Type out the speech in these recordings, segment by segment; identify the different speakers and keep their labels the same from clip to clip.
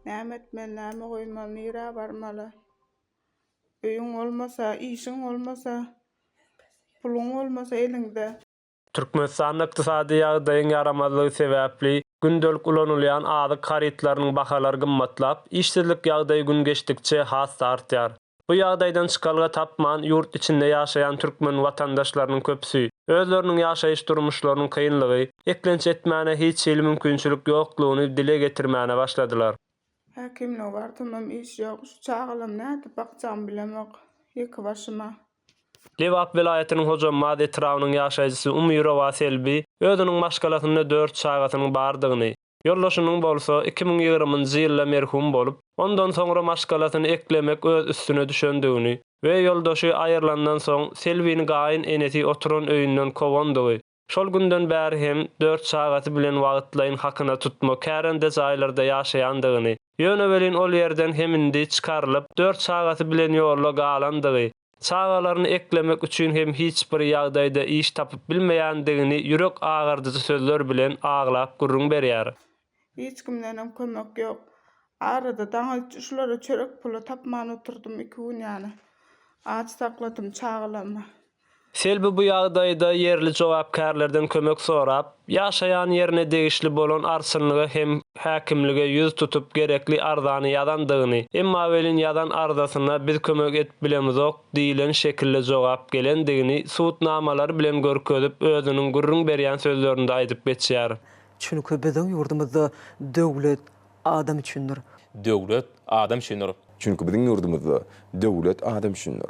Speaker 1: Näme etmeli, näme goýmaly, nirä barmaly? Öýüň bolmasa, işiň bolmasa, puluň bolmasa eliňde. Türkmenistanda
Speaker 2: ykdysady ýagdaýyň ýaramazlygy sebäpli, gündelik ulanylýan azyk harytlarynyň bahalary gymmatlap, işsizlik ýagdaýy gün geçdikçe has-da artýar. Bu ýagdaýdan çykalga tapman, ýurt içinde ýaşaýan türkmen watandaşlarynyň köpüsi, özleriniň ýaşaýyş durmuşlarynyň kynlygy, eklenç etmäne hiç hili mümkinçilik ýoklugyny dile getirmäne başladylar. Häkimlige
Speaker 1: barsamam iş ýok, şu çagalamy nädip bakjagymy bilemok, ýeke başyma. Lebap
Speaker 2: welaýatynyň Hojambaz etrabynyň ýaşaýjysy Umyrowa Selbi özüniň maşgalasynda dört çagasynyň bardygyny, Ýoldaşynyň bolsa iki müň ýigriminji ýylda merhum bolup, ondan soňra maşgalasyny eklemek öz üstüne düşendigini we ýoldaşy aýrylandan soň Selbini gaýyn enesi oturan öýünden kowandygy, şol günden bäri hem dört çagasy bilen wagtlaýyn hakyna tutma kärende jaýlarda ýaşaýandygyny, ýöne welin ol ýerden hem indi çykarylyp, dört çagasy bilen ýolda galandygy, Çagalaryny eklemek üçin hem hiç bir ýagdaýda iş tapyp bilmeýändigini ýürek agyrdyjy sözler bilen aglap gürrüň berýär. Hiç kimdenem
Speaker 1: kömek ýok. Arada daň üç şulara çörek puly tapman oturdym, iki gün ýaly aç sakladym çagalarymy. Selbi
Speaker 2: bu ýagdaýda ýerli jogapkärlerden kömek sorap, Ýaşaýan ýerine degişli bolan arçynlyga hem häkimlige ýüz tutup gerekli arzany ýazandygyny, emma welin ýazan arzasyna biz kömek edip bilemizok diýilen şekilde jogap gelendigini sud namalary bilen görkezip özüniň gürrüň berýän sözlerinde aýdyp geçýär. Çünki biziň
Speaker 3: ýurdumyzda döwlet adam üçindir. Döwlet
Speaker 4: adam üçindir. Çünki biziň ýurdumyzda
Speaker 5: döwlet adam üçindir.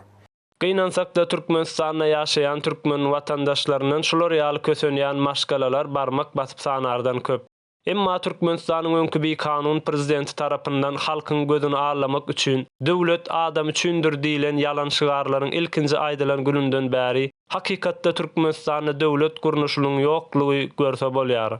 Speaker 5: Gynansakda
Speaker 2: Türkmenistanda ýaşaýan türkmen watandaşlaryndan şular ýaly kösenýän maşgalalar barmak basyp sanardan köp. Emma Türkmenistanyň öňki bikanun prezidenti tarapyndan halkyň gözüni allamak üçin Döwlet adam üçindir diýlen ýalan şygarlaryň ilkinji aýdylan gününden bäri hakykatda Türkmenistanda döwlet gurnuşylyň ýoklugy görse bolýar.